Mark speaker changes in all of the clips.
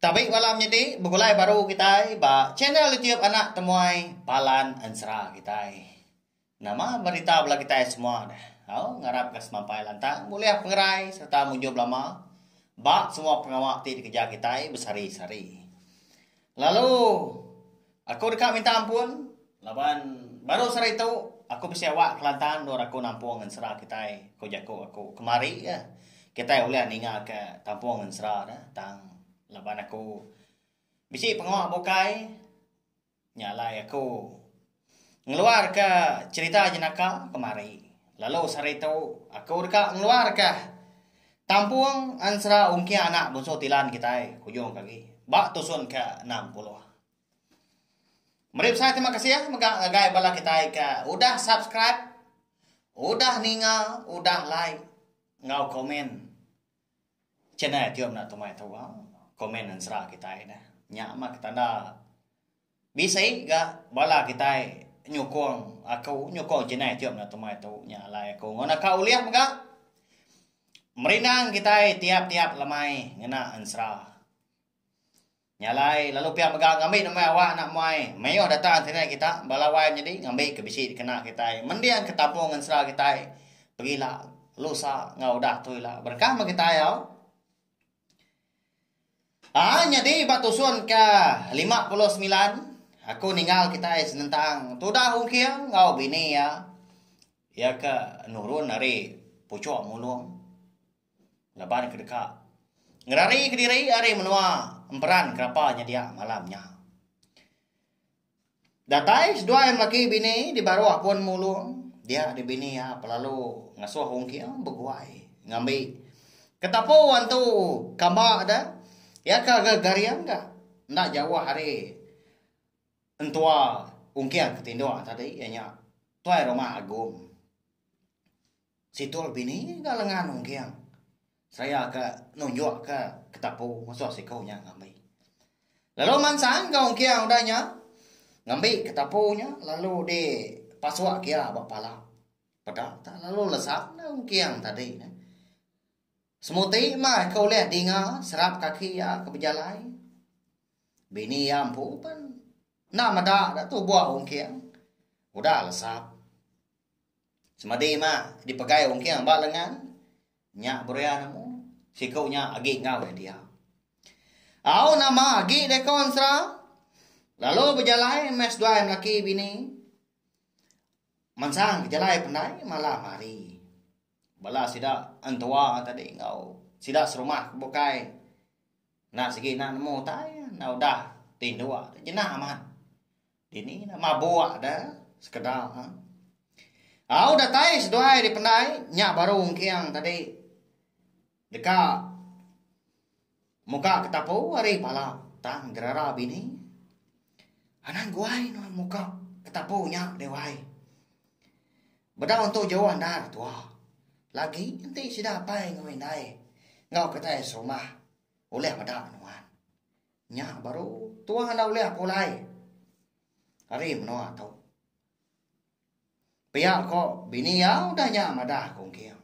Speaker 1: Tabi bala menyadi begulai baru kitai ba channel YouTube anak temuai Palan Ensera kitai. Nama berita bala kitai semua deh. Au ngarapka semampai lantang bulih pengerai sereta mujur belama ba semua pengawa ti dikereja kitai besehari-sehari. Lalu. Aku deka minta ampun laban baru sehari tu aku bisi awak Kelantan endur aku nampung ngan sera kitai, ku jaku aku. Kemari iya, kitai ulih ningaka tampung ngan sera ne tang laban aku bisi pengawa bukai nya alai aku ngeluarka cherita jenaka kemari. Lalu sehari tu aku deka ngeluarka tampung ansera ungking anak bunsu Tilan kitai hujung ke agi ba tusun ke enam puluh. Meri besai terima kasih mega ngagai bala kitai ke udah subscribe, udah ninga, udah like enggau komen channel Tio Meda Tumai tu. Komen ensera kitai dah. Nya mah ketanda bisi ga bala kitai nyukung aku, nyukung channel Tio Meda Tumai tu. Nya alai aku ngan aka ulih mega merindang kitai tiap-tiap lemai ngena ensera. Nya alai, lalu pia mega ngambi nembiak awak anak muai mayuh data internet kita bala wai menyadi ngambi ke bisi dikena kitai mending ke kampung ngensera kitai pegila lusa enggau udah tu ila berkah meh kitai au. Aa nyadi ba tusun ke lima puluh semilan aku ninggal kitai senentang tudah ungking enggau bini iya, iya ke nurun ari puchok mulong. laban ke deka ngerari kediri ari menua emperan kerapa nyedia malam nya. Datai seduai melaki bini di baruh pun mulung dia di bini iya pelalu ngasuh ungking beguai ngambi ketapu antu kamba de iya ke ga garing ga enda jauh ari entua ungking ke tinduk tadi iya nya Tuai Rumah Agong. Situl bini ga lengan ungking seraya ke nunjuk ke ketapu musuh siku nya ngambi. Lalu mansang ga ungking udah nya ngambi ketapu nya lalu di pasuk gia ba pala peda tau lalu lesap dah ungking tadi ne. Semuti mah ke ulih dinga serap kaki iya ke bejalai. Bini iya empu pen enda meda da tubuh ungking udah lesap. Semadi ima dipegai ungking ba lengan nya beria nemu siku nya agi enggau iya dia. Au nama agi deka ensera lalu bejalai meh seduai melaki bini. Mansang bejalai pendai malam hari. Bala sida entua tadi enggau sida serumah ke bukai enda sigi nak nemu utai enda udah tinduk jena amat. Dini nya mabuk da sekeda. Au datai seduai dipendai nya baru engking tadi deka muka ke tapu ari pala tang gerara bini. Anang guai nuan muka ke tapu nya deh wai. Bedau entu jauh andar tua. Lagi enti sida apai enggau indai enggau kitai serumah ulih meda nuan. Nya baru tuang enda ulih aku alai. Ari menoa tu. Pia ko bini iya udah nya madah ko engking.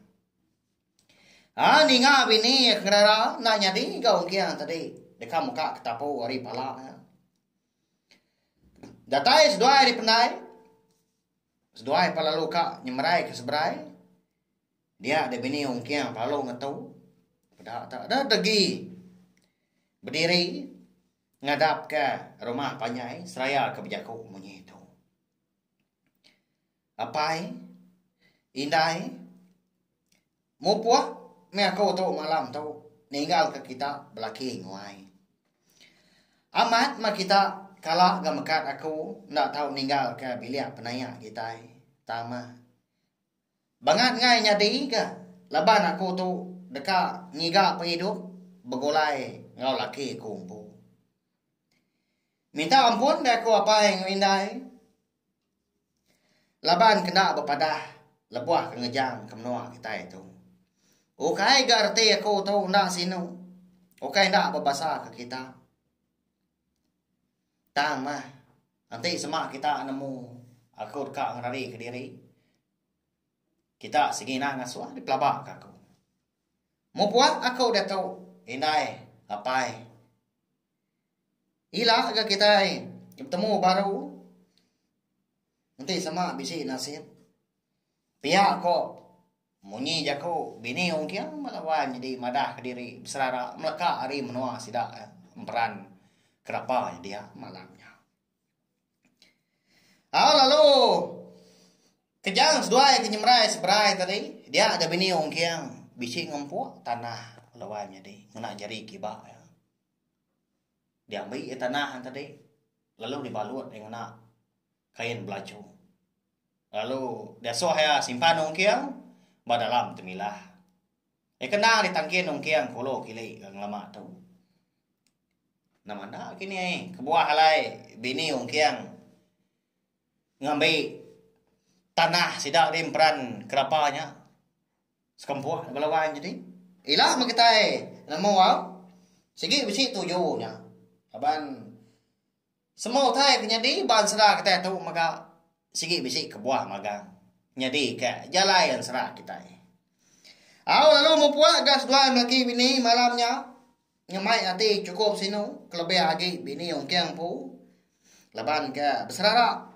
Speaker 1: Ha ninga bini iya kengerara enda nyadi ga engking tadi. Deka muka ke tapu ari pala iya. Datai seduai ari pendai. Seduai pa lalu ka nyemerai ke seberai. Dia deh bini Ong Kiang Palo ngetu peda tu deh degi bediri ngadapka rumah panjai seraya ke bejaku munyi tu. Apai indai mupuk meh aku tu malam tu ninggal ke kita belaki nguai. Amat meh kita kala ga mekat aku enda tau ninggal ke bilik penaya kitai tama. Bangat ngai nyadi ga laban aku tu deka ngiga pengidup begulai enggau laki aku empu. Minta ampun deh aku apai enggau indai laban ke enda bepadah lebuh ke ngejang ke menua kitai tu. Ukai ga reti aku tu enda sinu, ukai enda bebasa ke kita. Tang meh, enti sema kita nemu aku deka ngerari kediri, kita sengina ngasuh deh pelaba ke aku. Mung pua aku diatu indai apai, ila ga kitai betemu baru enti sema bisi nasit pia ko. Munyi jaku bini Ong Kiang bala wan nyadi madah kediri beserara meleka ari menua sida emperan kerapa iya dia malam nya. Au lalu Kejang seduai ke nyemerai seberai tadi dia ga bini Ong Kiang bisi ngempuk tanah bala wan nyadi ngena jari kiba iya. Diambi iya tanah tadi lalu dibalut iya ngena kain belaju lalu diasuh iya simpan ungking ba dalam temilah. Iya kena ditangkin ungking kulu kili ke ngelama tu. Nama enda kini ai kebuah alai bini ungking ngambi tanah sida di emperan kerapa nya sekempuk bala wang nyadi. Ila meh kitai nemu au sigi bisi tuju nya laban Semua utai ke nyadi ba ensera kitai tu mega sigi bisi kebuah magang nyadi ka jalai ensera kitai. Au lalu mempuak ga seduai melaki bini malam nya ngemai ati chukup sinu kelebih agi bini ungking empu laban ka beserara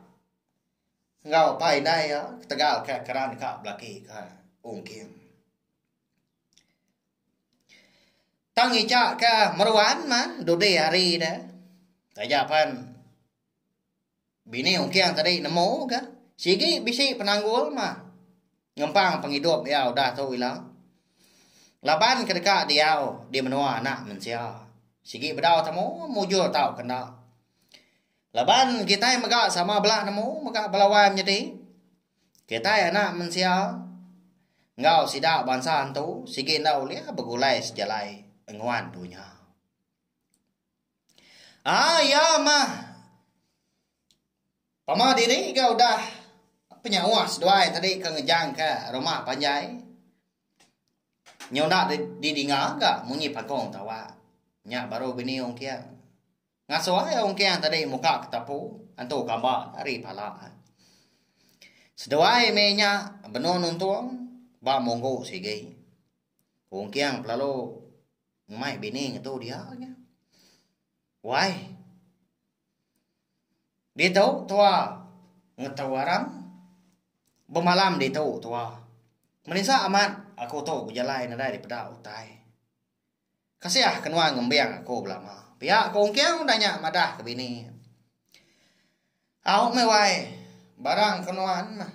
Speaker 1: enggau apai indai iya ketegal ka keran ka belaki ka ungking. Tang Icha ke meruan mah dudi hari de taja pen bini ungking tadi nemu ke sigi bisi penanggul mah ngempang pengidup iya udah tu ila laban ke deka diau di menua anak mensia sigi bedau temu mujur tau ke enda laban kitai mega sama bela nemu mega bala wai menyadi. Kitai anak mensia enggau sida bansa entu sigi enda ulih begulai sejalai enguan dunya. Ah ya mah. Pama diri ga udah penyawa seduai tadi ke ngejangka rumah panjai. Nyau enda didinga ga munyi pagong tawa. Nya baru bini ongkir. Ngasuh ai ungking tadi muka ke tapu entu kamba ari pala. Seduai meh inya benung nuntung ba munggu sigi. Ungking pelalu ngemai bini ngetu dia nya. Wai. Ditu tua ngetu arang. Bemalam ditu tua. Menisa amat aku tu bejalai nadai dipeda utai. Kasiah ke nuan ngembing aku belama. Pia ko Ongking udah nya madah ke bini. Au meh wai barang ke nuan meh.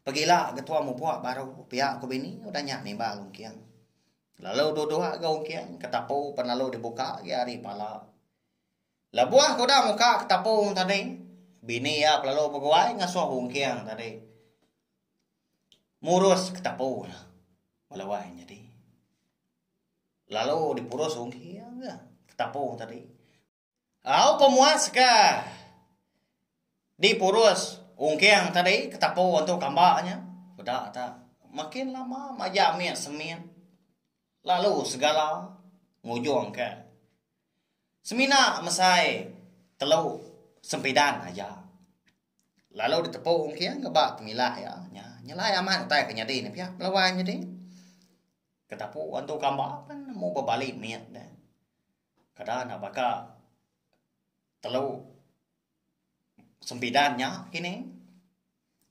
Speaker 1: Pegila ke tuan mupuk baru pia ko bini udah nya nimbal Ongking. Lalu duduk ga Ongking ke tapu pan lalu dibuka agi ari pala. Lebuh ke udah muka ke tapu tadi bini iya lalu beguai ngasuh Ongking tadi. murus ke tapu ne bala wai nyadi lalu dipurus ugi iya ke tapu tadi au pa muas ka dipurus ungking tadi ke tapu antu kamba nya peda ta makin lama maja ami semin lalu segala ngujung ka semina mesai telu sempidan aja. lalu ditepu Ong Kiang ke ba pemila iya nya nyelai amat utai ke nyadi ne pia belawai nyadi ketapu antu kamba pen nemu ba bali mit ne kada enda baka telu sembidan nya kini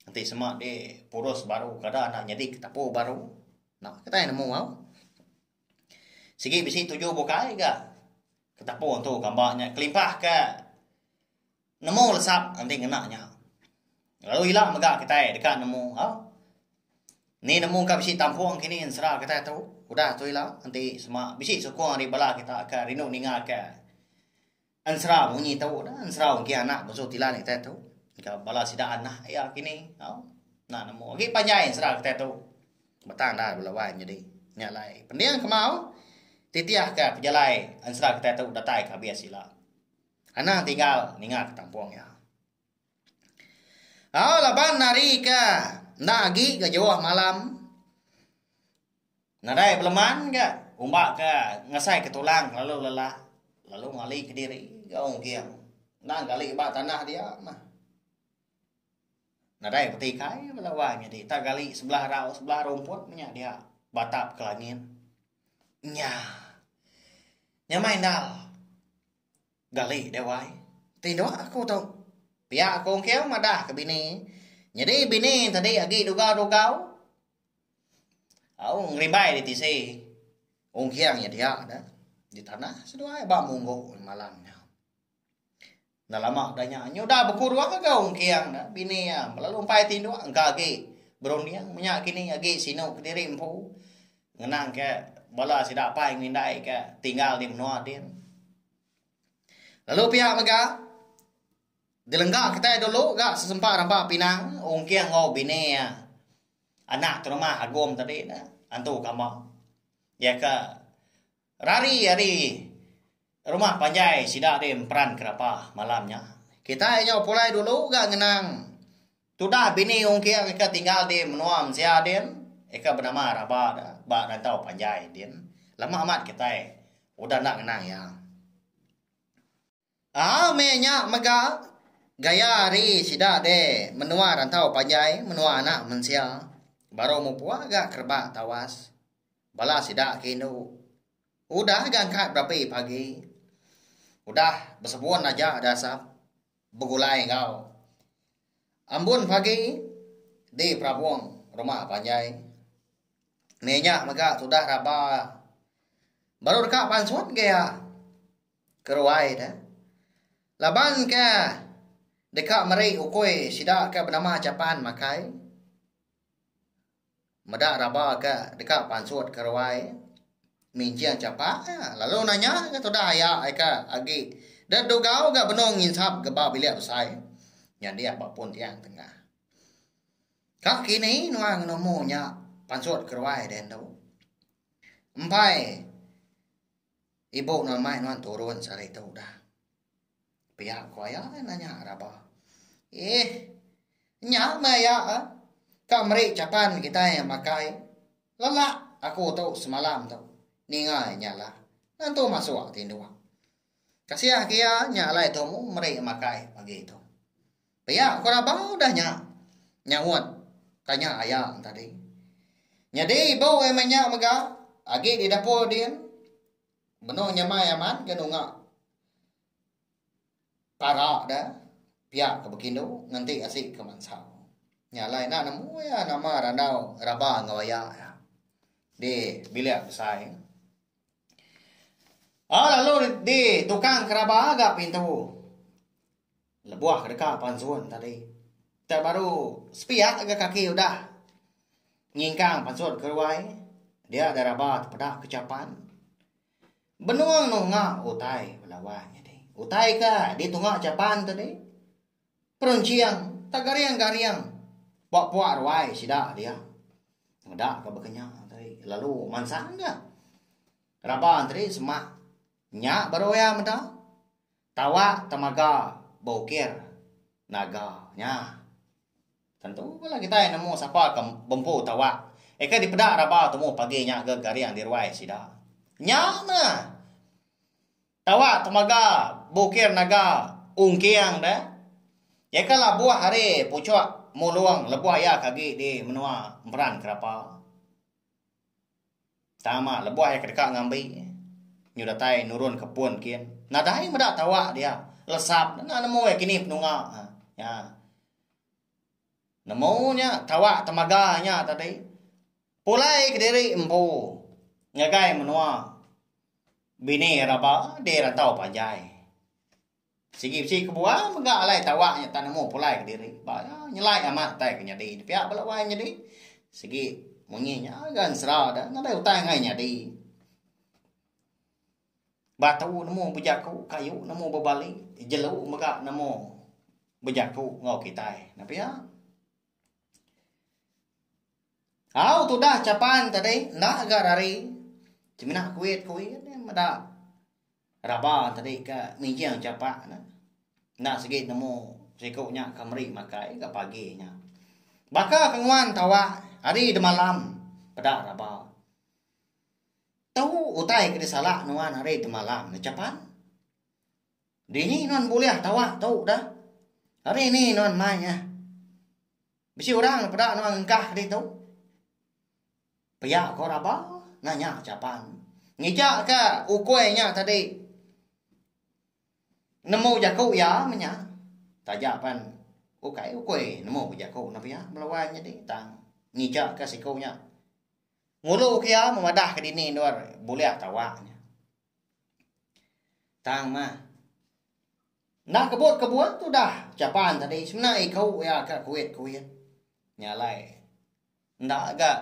Speaker 1: enti sema di purus baru kada enda nyadi ketapu baru enda kitai nemu au sigi bisi tuju bukai ga ketapu antu kamba nya kelimpah ke Nemu lesap enti ngena nya. Lalu ila mega kitai deka nemu ha. Ni nemu ka bisi tampung kini ensera kitai tu. Udah tu ila enti sema bisi sukung ari bala kita ke rindu ninga ke ensera munyi tu udah ensera ugih anak mesu tilan kitai tu ngau bala sida anak iya kini tau. Ena nemu agi panjai ensera kitai tu batang enda bela wai nyadi. Nya alai pending kemau titih ke pejalai ensera kitai tu datai ke abis ila. Anang tinggal ninga ke tampung iya. Au laban hari ke enda agi ke jauh malam. Nadai beleman ke umba ke ngasai ke tulang lalu lelak lalu ngali ke diri ke Ong Giang. Enda gali ba tanah dia mah. Nadai peti kai bala wang nyadi tak gali sebelah rau sebelah rumput nya dia batap ke langit. Nya. Nyamai endal. Gali Dewai, Ti enda aku tu. Pia aku engkau madah ke bini. Nyadi bini tadi agi dugau-dugau. Au ngerimbai di tisi. Ungking nya dia da di tanah seduai ba munggu malam nya. Enda lama da nya nya udah beku dua ga ungking da bini iya lalu empai ti dua engka agi berunding menya kini agi sinu kediri empu. Ngenang ke bala sida apai enggau indai ke tinggal di menua din. Lalu pia mega dilengga kitai dulu ga sesempa ramba pinang ungking enggau bini iya anak terumah Agum tadi ne antu kamba. Iya ke Rari ari rumah panjai sida deh emperan kerapa malam nya. Kitai nyau pulai dulu ga ngenang tudah bini ungking ika tinggal di menua mensia din ika benama Raba da ba rantau panjai din. Lama amat kitai udah enda ngenang iya. Aa meh nya mega gaya ari sida deh menua rantau panjai menua anak mensia baru mupua ga ke rebak tawas bala sida ke indu udah ga angkat berapi pagi udah besebun aja da asap begulai enggau ambun pagi di perabung rumah panjai meh nya mega tudah raba baru deka pansut gaya. keruai de laban ke deka meri ukui sida ke benama Japan makai meda raba ke deka pansut keruai minjing chapa lalu nanya ke tudah aya ke agi de dugau ga benung nginsap ga ba bilik besai nyadi aba pun tiang tengah. Ka kini nuan nemu nya pansut keruai de endo. Empai. Ibu nuan mai nuan turun sehari tu dah. Pia ku aya eh, nanya raba. Eh, nya meh aya eh. Ka meri chapan kitai yang makai. Lelak aku tu semalam tu. Ninga nya lah. Nentu masuk tinduk. Kasih ke iya nya alai tu meri makai pagi tu. Pia ko Rabau dah nya, nyaut tanya aya tadi. Nyadi bau ai meh nya mega agi di dapur din benung nyamai amat ke nunga para de pia ke bekindu ngenti asi ke mansa. Nya alai enda nemu iya nama randau raba enggau aya iya di bilik besai. Au lalu di tukang keraba ga pintu. Lebuh ke deka pan sun tadi. Dak baru sepiak ga kaki udah nyingkang pan sun ke ruai. Dia dai raba tepeda ke chapan. Benung nunga utai bala wang nyadi. Utai ke ditunga chapan tadi perenching tegaring-garing puak-puak ruai sida dia. Meda ke baka nya tadi lalu mansang ga raba tadi semak. Nya baru iya meda. Tawa temaga beukir naga nya. Tentu bala kitai nemu sapa ke bempu tawa. Eka dipeda raba tumu pagi nya ga garing di ruai sida. Nya meh. Tawa temaga beukir naga ungking deh. Eka labuh ari puchuk mulung lebuh iya ke agi di menua emperan kerapa. Tama lebuh iya ke deka ngambi nyu datai nurun ke pun kin. Nadai meda tawa dia. Lesap enda nemu iya kini penunga nya. Nemu nya tawa temaga nya tadi. Pulai kediri empu ngagai menua bini raba dei rantau panjai. Sigi bisi kebuah mega alai tawak nya tak nemu pulai kediri ba iya nyelai amat utai ke nyadi nya pia bala wai nyadi sigi munyi nya ga ensera da nadai utai angai nyadi. Batu nemu bejaku kayu nemu bebali jelu mega nemu bejaku enggau kitai nya pia. Au tudah chapan tadi enda ga rari semina kuit kuit meda. Raba tadi ka nginjing chapak ne. Enda sigi nemu siku nya ka meri makai ka pagi nya. Baka ka nguan tawak hari demalam peda raba. Tu utai ke disalak nuan hari demalam ne chapan. Dini nuan bulih tawak tu da. Hari ini nuan mai eh. Bisi orang peda nuan ngengkah ditu. Pia ko raba ngah nya Japan. Ngija ka ukoi nya tadi. Nemu jaku iya menya. Taja pan ukai ukoi nemu ba jaku nya pia melawan nyadi tang ngija ka siku nya. Ngulu ke iya memadah ke dini endur bulih tawa nya. Tang mah. Enda kebut kebuan tudah Japan tadi semina iku iya ka kuit kuit. Nya alai. Enda ga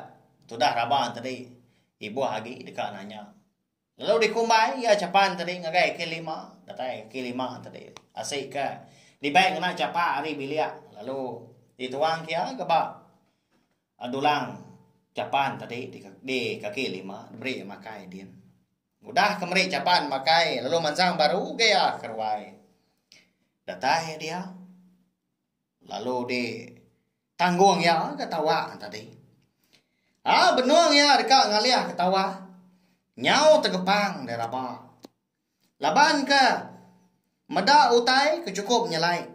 Speaker 1: tudah raban te di ibuh agi deka nanya. Lalu dikumbai ia chapan te di ngagai ke lima datai ke lima te di asi ke dibai ngena chapa ari bilik lalu dituang ke ia ke ba dulang chapan te di di kaki lima diberi ia makai din. Udah ke meri chapan makai lalu mansang baru ugai ia ke ruai. Datai dia lalu di. Tanggung iya ke tawa tadi. A benung iya deka ngalih ke tawa. Nyau tegepang deh raba. Laban ke meda utai ke chukup nyelai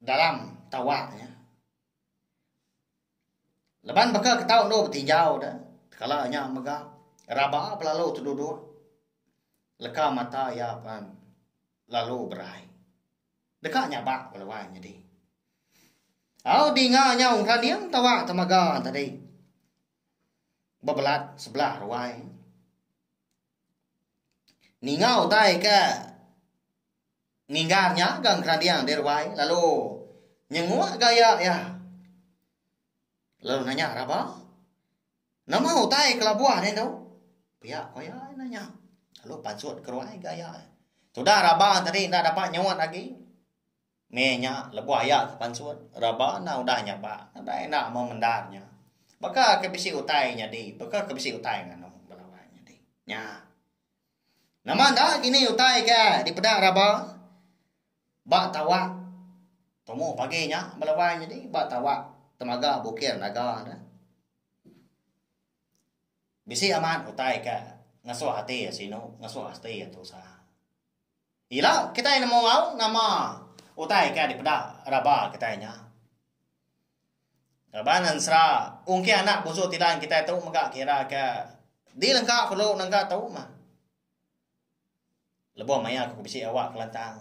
Speaker 1: dalam tawa iya. Laban baka ke tau endur betinjau deh kala nya mega raba belalu teduduk leka mata iya pan. lalu berai. Deka nyabak belawan nyadi. Au dinga nyau raning tawa temaga tadi. Bebelat sebelah ruai. Ninga utai ke nginggar nya gang keranding di ruai lalu nyenguk gaya iya. Lalu nanya raba. Nama utai kelabuh nih tu? Pia ko iya nanya. Lalu pansut ke ruai ga iya. Tudah raba tadi enda dapat nyuut agi. Meh nya lebuh iya ke pansut, raba enda udah nyaba. Nadai enda memendar nya. Baka ke bisi utai nyadi, baka ke bisi utai nganu bala wai nyadi. Nya. Nama enda kini utai ke dipeda raba? Ba tawak tumu pagi nya bala wai nyadi ba tawak temaga bukir naga ne bisi amat utai ka ngesuh ati iya sinu ngesuh ati iya tusa. Ila kitai nemu au nama utai ka dipeda raba kitai nya. Raban ensera ungki anak busu tilan kitai tu mega kira ka dilengka perlu nengka tu mah. Lebuh maya aku ke bisi awak kelantang.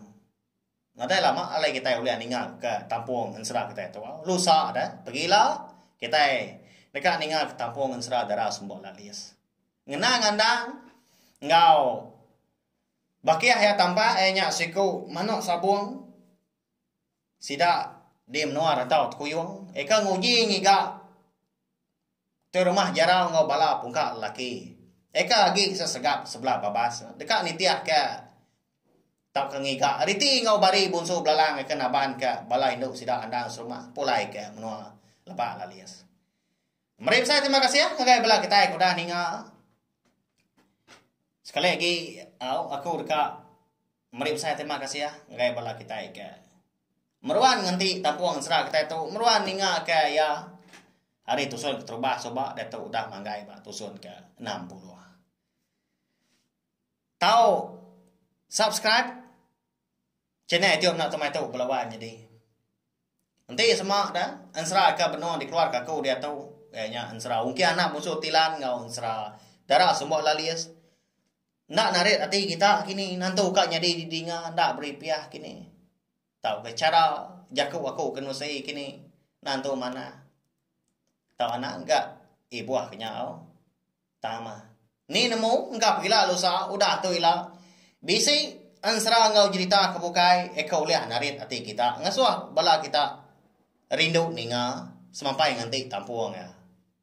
Speaker 1: Nadai lama alai kitai ulih ninga ke tampung ensera kitai tu. Lusa deh, pegila kitai deka ninga ke tampung ensera dara semba lalis. Ngena ngandang enggau bakih iya tambak iya nya siku manuk sabung sida di menua rantau Tekuyung ika nguji ngiga. Tu rumah Jarau enggau bala pungka lelaki. Eka agi sesegap sebelah babas deka nitihka tauka ngiga riti enggau bari Bunsu Belalang eka nabanka bala indu sida endang serumah pulaika menua Lebak Lalis. Meri besai terima kasih ngagai bala kitai ke udah ninga. Sekali agi au aku deka Meri besai terima kasih ngagai bala kitai ke meruan ngenti tampung ensera kitai tu, meruan ninga ke iya ari tusun keterubah suba diatu udah manggai ba tusun ke enam puluh. Tau subscribe channel youtube enda temai tu bala wai nyadi. Enti sema da ensera ke benung dikeluarka aku diatu iya nya ensera Ungki Anak Musu Tilan enggau ensera Dara Sumbo Lalis. Enda narit ati kita kini nantu ka nyadi didinga enda beri piah kini tauka chara jaku aku ke nusi kini nantu manah tau anak ga ibuh ke nyau tama ni nemu enggau pegila lalu usa udah tu ila bisi ensera enggau jerita ke bukai iko ulih narit ati kita ngasuh bala kita rindu ninga semapai nganti tampung iya.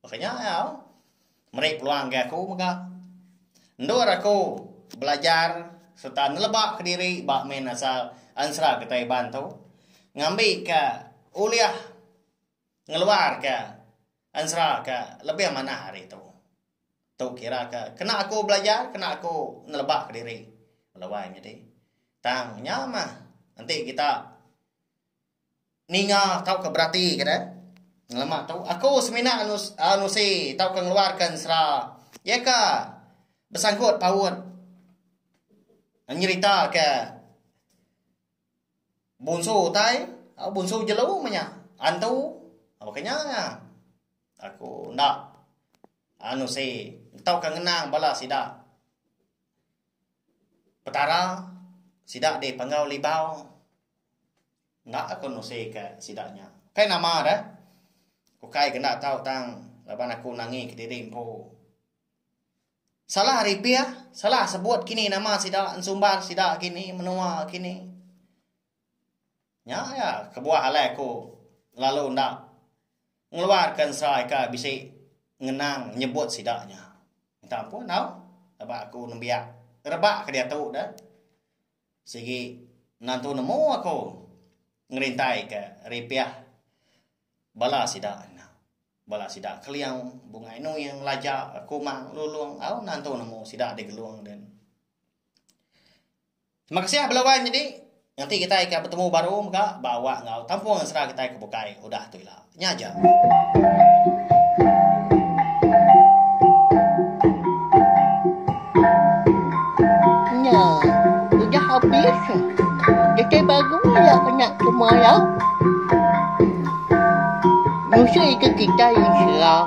Speaker 1: Baka nya au meri peluang agi aku mega endur aku belajar sereta neleba ke diri ba min asal ensera kitai Iban tu ngambi ke ulih ngeluar ke ensera ke lebih manah ari tu. Tu kira ke kena aku belajar kena aku neleba ke diri laban nyadi tang nya mah enti kita Ninga tauka beratika deh. Ngelama tu aku semina nus, uh, nusi tauka ngeluarka ensera iaka besangkut paut nyerita ke bunsu utai, uh, bunsu jelu meh nya, antu uh, baka nya nya. Aku enda uh, nusi tauka ngenang bala sida Petara sida dipanggau Libau. Enda aku nusi ka sida nya. Kai nama da? Ukai ke enda tau tang laban aku nangi kediri empu. Salah ari pih, salah sebut kini nama sida, ensumbar sida kini, menua kini. Nya iya kebuah alai aku lalu enda ngeluar ka ensai ka bisi ngenang nyebut sida nya. Minta ampun tau laban aku nembiak rebak ke diatu da. Sigi ngantu nemu aku ngerintai ka ripih bala sida nya. Bala sida keliau bungai nuing laja kumang lulung au ngantu nemu sida digelung din. Terima kasih bala wan nyadi. Nganti kitai ka betemu baru mega ba awak enggau tampung sera kitai ke bukai udah tu ila. Nya aja.
Speaker 2: Nya. Udah habis. Kitai baru ya anak semua ya. Nusa ika kitai insya.